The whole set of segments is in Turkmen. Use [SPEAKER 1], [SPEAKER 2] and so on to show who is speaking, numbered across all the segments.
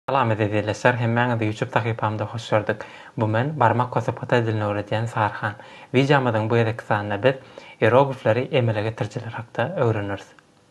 [SPEAKER 1] Salam eziz ildeşler, hemmäňizi YouTube sahypamda hoş gördük. Bu men, barmak gosup hytaý dilini öwredýän Saryhan. Wideomyzyň bu gezekki sanynda biz ieroglifleri emele getirijiler hakda öwreneris.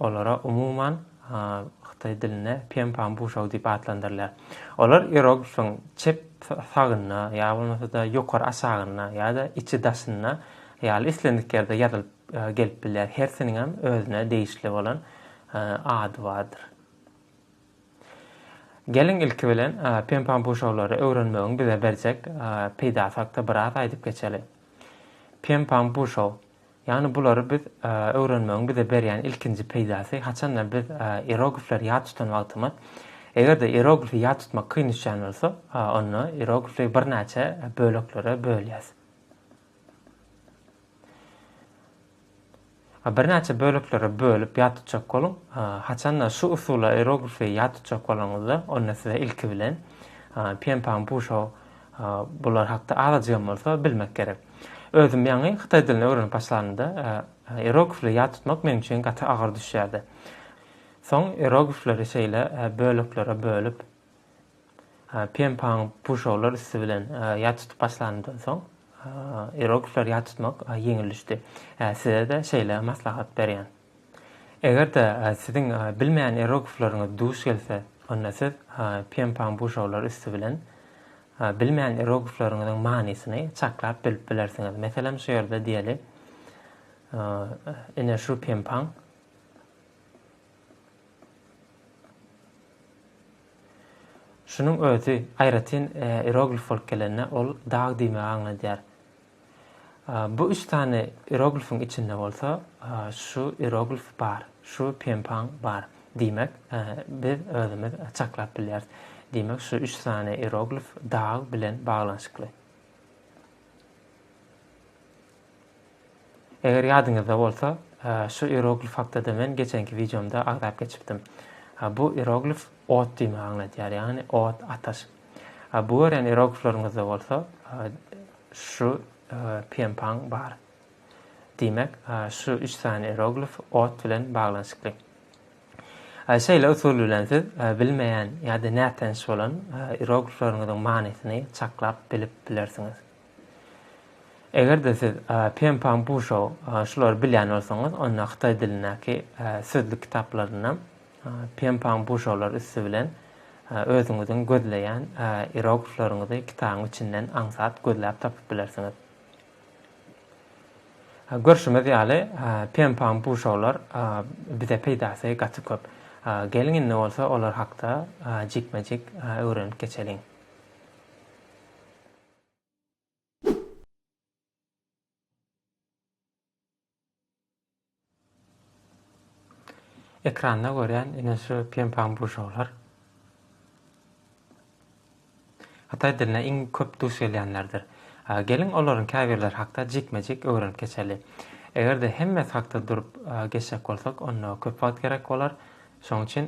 [SPEAKER 1] Olara umuman hytaý dilinde Pian-pan Buşou diýip atlandyrylýar. Olar ieroglifyň çep sagynda ýa bolmasa-da ýokary-aşagynda ýa-da içi-daşynda ýaly islendik ýerde ýazylyp gelip bilýär. Hersiniňem özüne degişli bolan ady bardyr. Geliň ilki bilen Pian-pan Buşoulary öwrenmegiň bize berjek peýdasy hakda biraz aýdyp geçeli. Pian-pan Buşou Ýagny bulary biz öwrenmegiň bize berýän ilkinji peýdasy, haçanda biz ieroglifleri ýat tutan wagtymyz, eger-de ieroglifi ýat tutmak kyn düşýän bolsa, onda ieroglifi birnäçe böleklere bölýäs. Birnäçe böleklere bölüp ýat tutjak boluň. Haçanda şu usulla ieroglifi ýat tutjak bolaňyzda, onda size ilki bilen Pienpang Busho Bular hakda azajygam bolsa bilmek gerek. Özüm ýaňy hytaý dilini öwrenip başlanymda, ierogifleri ýat tutmak meň üçin gaty agyr düşýärdi. Soň ierogifleri şeýle böleklere bölüp, penpaň puşaglar üsti bilen ýat tutup başlanymdan soň, ierogifleri ýat tutmak ýeňil düşdi. Size-de şeýle maslahat berýän. Eger-de siziň bilmeýän ierogifleriňiz duş gelse, onda siz pienpaň buşaglary üsti bilen bilmeýän ierogifleriňiziň manysyny çaklap bilip bilersiňiz. Meselem, şu ýerde diýeli, ine şu pienpaň. Şunuň özi aýratyn ierogif bolup gelende, ol dag diýmegi aňladýar. Bu üç sany ieroglifiň içinde bolsa şu ieroglif bar, şu penpaň bar diýmek biz özümiz çaklap bilýäris. Diýmek şu üç sany ieroglif dag bilen baglanyşykly. Eger ýadyňyzda bolsa, şu ieroglif hakda-da men geçenki wideomda agzap geçipdim. Bu ieroglif ot diýmegi aňladýar, ýagny ot, ataş. A bu gören eroglflaryňyzda bolsa şu pienpaň bar. Diýmek, şu üç sany eroglf ot bilen baglanyşykly. A şeýle usul bilen siz bilmeýän ýa-da nätanyş bolan eroglflaryňyzyň manysyny çaklap bilip bilersiňiz. Eger-de siz Pempang Buşou şulary bilýän bolsaňyz, onda hytaý dilindäki sözlük kitaplarynda Pempang Buşoular üsti bilen özüňiziň gözleýän ieroglifleriňizi kitabyň içinden aňsat gözläp tapyp bilersiňiz. Görşümiz ýaly, Pempang Buşoular bize peýdasy gaty köp. Geliň indi bolsa olar hakda jikme-jik öwrenip geçeliň. Ekranda görýän ine şu pem-pam guşaklar hytaý diline iň köp duş gelýänlerdir. Geliň olaryň käbirleri hakda jikme-jik öwrenip geçeli. Eger-de hemmesi hakda durup geçjek bolsak, onda köp wagt gerek bolar. Şonuň üçin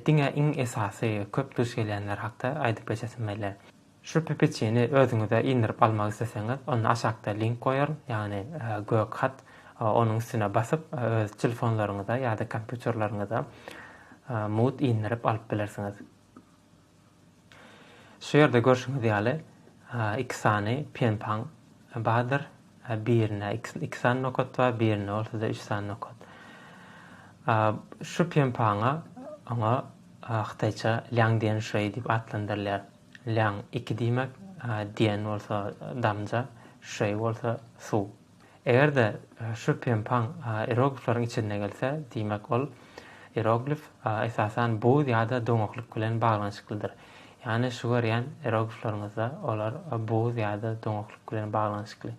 [SPEAKER 1] diňe iň esasy, köp duş gelýänleri hakda aýdyp geçesim gelýär. Şu ppçini özüňize indirip almak isleseňiz, onda aşakda link goýaryn, ýagny gök hat, onuň üstüne basyp, öz telefonlaryňyza ýa-da kompýuterleriňize mut indirip alyp bilersiňiz. Şu ýerde görşüňiz ýaly, iki sany penpaň bardyr, birinde iki sany nokat bar, birinde bolsa-da üç sany nokat. Şu penpaňa, oňa hytaýça Liang Dian Shui diýip atlandyrylýar. Len, iki diýmek, diýen bolsa damja, şüeý bolsa suw. Eger-de şu penpaň ieroglifleriň içinde gelse, diýmek, ol ieroglif esasan buz ýa-da doňaklyk bilen baglanyşyklydyr. Ýagny şu görýän ieroglifleriňizde olar buz ýa-da doňaklyk bilen baglanyşykly.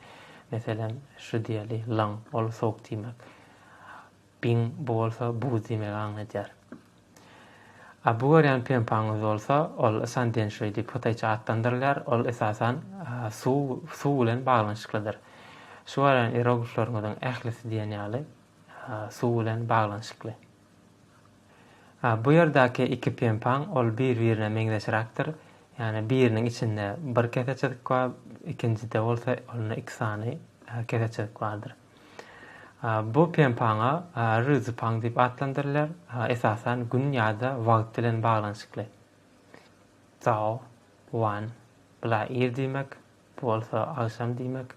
[SPEAKER 1] Meselem, şu diýeli, Len, ol sowuk diýmek. Bin, bu bolsa buz diýmegi aňladýar. A bu görýän pempaňyz bolsa, ol San Denşuý diýip hytaýça atlandyrylýar, ol esasan suw, suw bilen baglanyşyklydyr. Şu görýän ieroglifleriňiziň ählisi diýen ýaly suw bilen baglanyşykly. A bu ýerdäki iki pempaň ol bir-birine meňzeşräkdir. Ýagny biriniň içinde bir kese çyzyk bar, ikinjide bolsa onda iki sany kese çyzyk bardyr. Bu penpaňa ryzypaň diýip atlandyrylýar, esasan gün ýa-da wagt bilen baglanyşykly. Zao, wan, bula ir diýmek, bu bolsa agşam diýmek.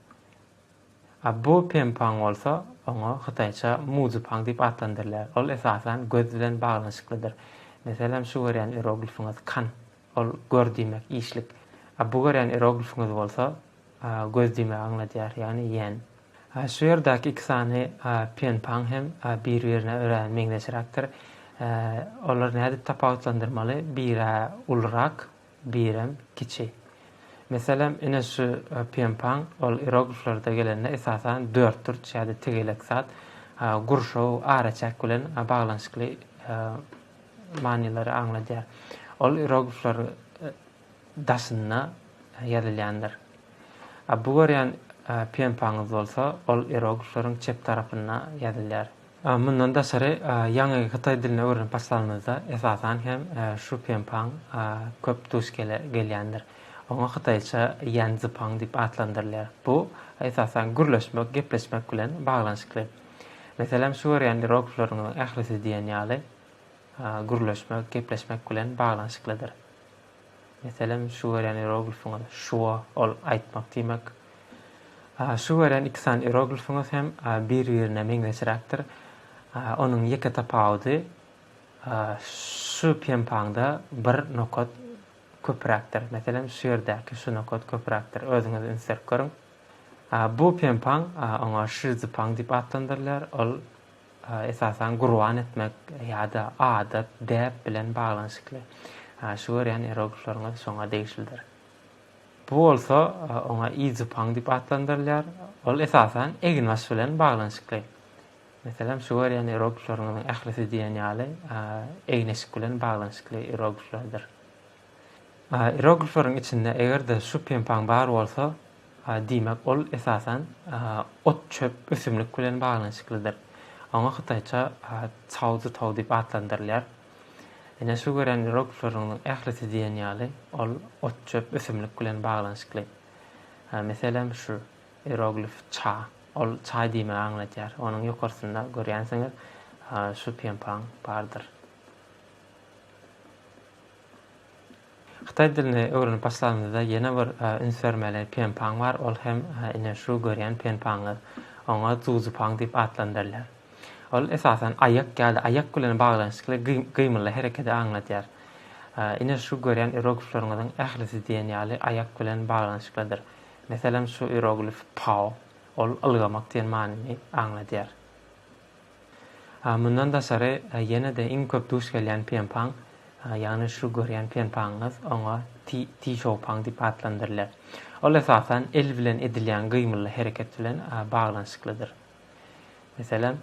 [SPEAKER 1] Bu penpaň bolsa, oňa hytaýça muzypaň diýip atlandyrylýar. Ol esasan göz bilen baglanyşyklydyr. Meselem, şu görýän ieroglifiňiz kan, ol gör diýmek, işlik. Bu görýän ieroglifiňiz bolsa, göz diýmegi aňladýar, ýagny ýen. A şu ýerdäki iki sany penpaň hem bir-birine örä meňzeşräkdir. Olary nädip tapawutlandyrmaly, bir-ä ulurak, birem kiçi. Meselem, ine şu penpaň, ol ierogliflerde gelende esasan dörtburç ýa-da tegelek zat, gurşaw, araçäk bilen baglanyşykly manylary aňladýar. Ol ieroglifler daşynda ýazylýandyr. A bu görýän pempaňyz bolsa, ol ieroglifleriň çep tarapynda ýazylýar. Mundan daşary, ýaňy hytaý dilini öwrenip başlanymyzda, esasan hem şu pempaň köp duş gelýändir. Oňa hytaýça ýanzipang diýip atlandyrylýar. Bu, esasan, gürleşmek, gepleşmek bilen baglanyşykly. Meselem, şu görýän ieroglifleriňiziň ählisi diýen ýaly gürleşmek, gepleşmek bilen baglanyşyklydyr. Meselem, şu görýän ieroglifiňiz şua, ol aýtmak diýmek. Şu görýän iki sany ieroglifiňiz hem bir-birine meňzeşräkdir. Onuň ýeke tapawudy, şu penpaňda bir nokat köpräkdir. Meselem, şu ýerdäki şu nokat köpräkdir. Özüňiz üns berip görüň. Bu penpaň, oňa şizdipaň diýip atlandyrylýar, ol esasan gurban etmek ýa-da adat, däp bilen baglanyşykly. Şu görýän ieroglifleriňiz şoňa degişlidir. Bu bolsa oňa izupaň diýip atlandyrylýar. Ol esasan eginbaş bilen baglanyşykly. Meselem, şu görýän ieroglifleriňiziň ählisi diýen ýaly egin-eşik bilen baglanyşykly ierogliflerdir. Iroglifleriň içinde eger-de şu penpaň bar bolsa, diýmek, ol esasan ot-çöp, ösümlik bilen baglanyşyklydyr. Oňa hytaýça cao zi tao diýip atlandyrylýar. Ine, şu gören iroglifleriň ählisi diýen ýaly, ol ot-çöp, ösümlik bilen baglanyşykly. Meselem, şu iroglif ça, ol çaý diýmegi aňladýar. Onuň ýokarsynda, görýänsiňiz, şu penpaň bardyr. Hytaý dilini öwrenip başlanymyzda ýene bir üns bermeli Pen Paň bar, ol hem ine şu görýän Pen Paňyňyz. Oňa Zu Zu Paň diýip atlandyrylýar. Ol esasan aýak ýa-da aýak bilen baglanyşykly gymyly herekedi aňladýar. Ine şu görýän ieroglifleriňiziň ählisi diýen ýaly aýak bilen baglanyşyklydyr. Meselem şu ieroglif Pao, ol ylgamak diýen manyny aňladýar. Mundan daşary, ýene-de iň köp duş gelýän penpaň, ýagny şu görýän penpaňyňyz, oňa ti-ti-şoupaň diýip atlandyrylýar. Ol esasan el bilen edilýän gymylly hereket bilen baglanyşyklydyr. Meselem,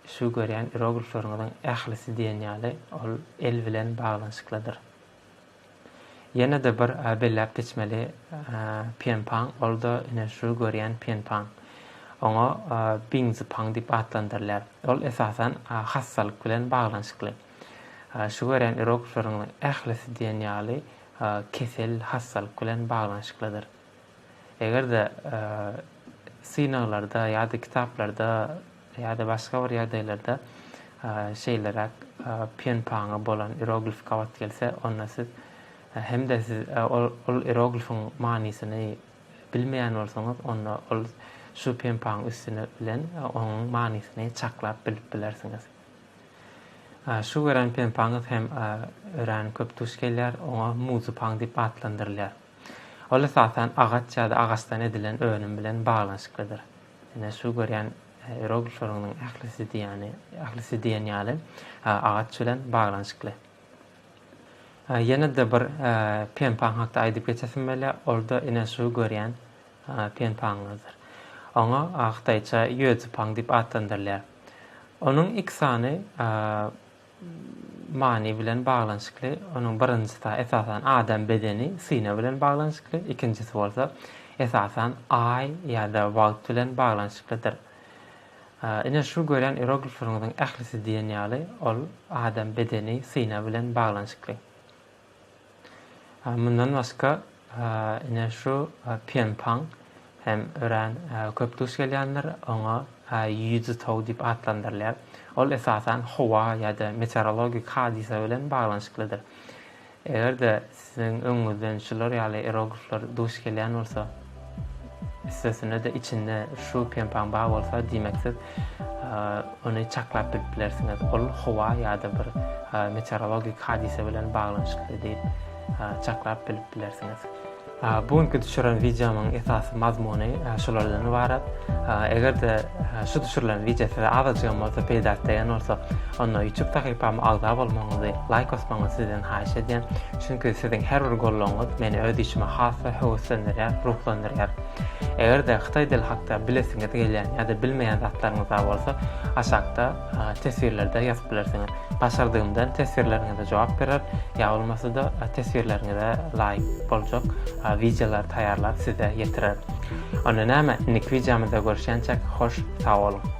[SPEAKER 1] şu görýän iroglifleriňiziň ählisi diýen ýaly, ol el bilen baglanyşyklydyr. Ýene-de bir belläp geçmeli Pienpaň, ol-da ine şu görýän Pienpaň. Oňa Biňzipaň diýip atlandyrylýar. Ol esasan hassalyk bilen baglanyşykly. Şu görýän ýeroglifleriň ählisi diýen ýaly kesel, hassalyk bilen baglanyşyklydyr. Eger-de synaglarda ýa-da kitaplarda ýa-da başga bir ýagdaýlarda şeýleräk pýenpaňa bolan ieroglif gabat gelse, onda siz hem-de siz ol ieroglifiň manysyny bilmeýän bolsaňyz, onda ol şu pýenpaň üstüni bilen onuň manysyny çaklap bilip bilersiňiz. Şu gören pýenpaňyz hem örän köp duş gelýär, oňa muzypaň diýip atlandyrylýar. Ol esasan agaç ýa-da agaçdan edilen önüm bilen baglanyşyklydyr. Ine, şu görýän ieroglifleriňiň ählisi diýýäni, ählisi diýen ýaly agaç bilen baglanyşykly. Ýene-de bir penpaň hakda aýdyp geçesim gelýär, ol-da ine şu görýän penpaňyňyzdyr. Oňa hytaýça ýuedzipaň diýip atlandyrylýar. Onuň iki sany many bilen baglanyşykly. Onuň birinjisi, esasan, adam bedeni, syna bilen baglanyşykly, ikinjisi bolsa, esasan, Aý ýa-da wagt bilen baglanyşyklydyr. Ine, şu gören ieroglifleriňiziň ählisi diýen ýaly, ol adam bedeni, syna bilen baglanyşykly. Mundan başga, ine, şu Pianpang hem örän köp duş gelýändir, oňa Ýuzi tow diýip atlandyrylýar. Ol esasan howa ýa-da meteorologik hadysa bilen baglanyşyklydyr. Eger-de siziň öňüňizden şular ýaly eroglifler duş gelýän bolsa, Üstesine-de içinde şu penpaň bar bolsa, diýmek siz ony çaklap bilip bilersiňiz. Ol howa ýa-da bir meteorologik hadysa bilen baglanyşykly diýip çaklap bilip bilersiňiz. Bu günki düşüren wideomyň esasy mazmuny şulardan ybarat. Eger-de şu düşürilen wideo size azajygam bolsa peýdaly degen bolsa, onda YouTube sahypama agza bolmagyňyzy, laýk basmagyňyzy sizden haýyş edýän. Çünki siziň her bir goldawyňyz meni öz işime has-da höweslendirýär, ruhlandyrýar. Eger-de hytaý dili hakda bilesiňiz gelýän ýa-da bilmeýän zatlaryňyz bar bolsa, aşakda teswirlerde ýazyp bilersiňiz. Başardygymdan teswirleriňize jogap berer, ýa bolmasa-da teswirleriňize laýyk boljak wideolary taýýarlap size ýetirerin. Onda näme, indiki wideomyzda görüşýänçäk, hoş sag boluň!